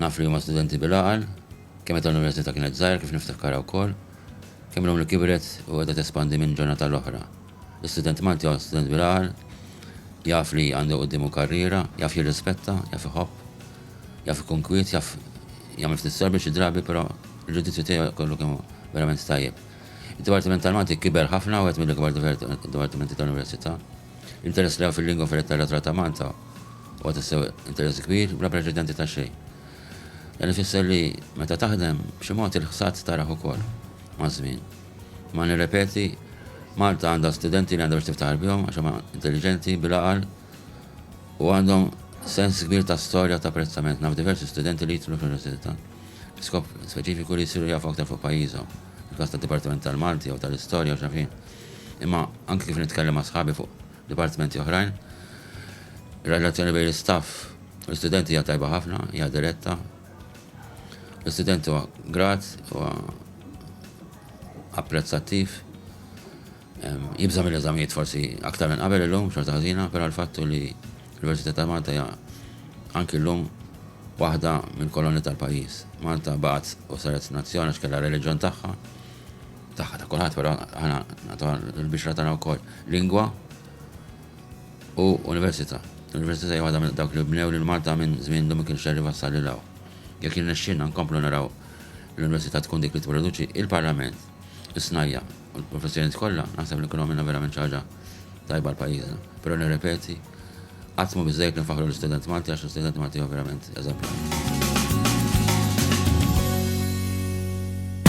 Naf li huma studenti bil-għaqal, kemm meta l-Università kienet żgħira kif niftakkarha wkoll, kemm illum li kibret u qiegħda tespandi minn ġurnata għal oħra. L-istudent Malti huwa student bil-għaqal, jaf li għandu quddiemu karriera, jaf jirrispetta, jaf iħobb, jaf ikun kwiet, jaf jagħmel ftit sorbi xi drabi però l-ġudizzju tiegħu kollu kemm hu verament tajjeb. Id-Dipartiment tal-Malti kiber ħafna, wieħed mill-ikbar dipartimenti tal-Università. L-interess li hawn fil-lingwa fil-letteratura ta' Malta huwa tassew interess kbir bla preċedenti ta' xejn. Dan ifisser li meta taħdem, b'xi mod il-ħsad tarah ukoll, maż-żmien. Imma nirrepeti, Malta għandha studenti li għandha biex tiftaħar bihom għax huma intelliġenti, bil-għaqal u għandhom sens kbir ta' storja u ta' apprezzament. Naf diversi studenti li jidħlu fl-Università bi skop speċifiku li jsiru jafu aktar fuq pajjiżhom, fil-każ tad-Dipartiment tal-Malti jew tal-Istorja u x'naf jien. imma anki kif nitkellem ma' sħabi fuq dipartimenti oħrajn, ir-relazzjoni bejn l-istaff u l-istudenti hija tajba ħafna, hija diretta. L-istudent huwa grat, huwa apprezzattiv, jibża' mill-eżamijiet forsi aktar minn qabel illum xorta ħażina, però l-fattu li l-Università ta' Malta hija anki llum waħda mill-kolonni tal-pajjiż. Malta baqgħet u saret nazzjon għax kellha reliġjon tagħha, tagħha ta' kulħadd, però aħna nagħtuha l-bixra tagħna wkoll lingwa u università. L-università hija waħda minn dawk li bnew lil Malta minn żmien li ma kienx ser iwassal lil hawn. Jekk jirnexxinna nkomplu naraw l-università tkun dik li tipproduċi il-Parlament, is-snajja u l-professjonijiet kollha, naħseb li nkunu għamilna verament xi ħaġa tajba l-pajjiżna. Però nirrepeti, qatt mhu biżejjed li nfaħħru l-istudent Malti għax l-istudent Malti huwa verament eżemplari.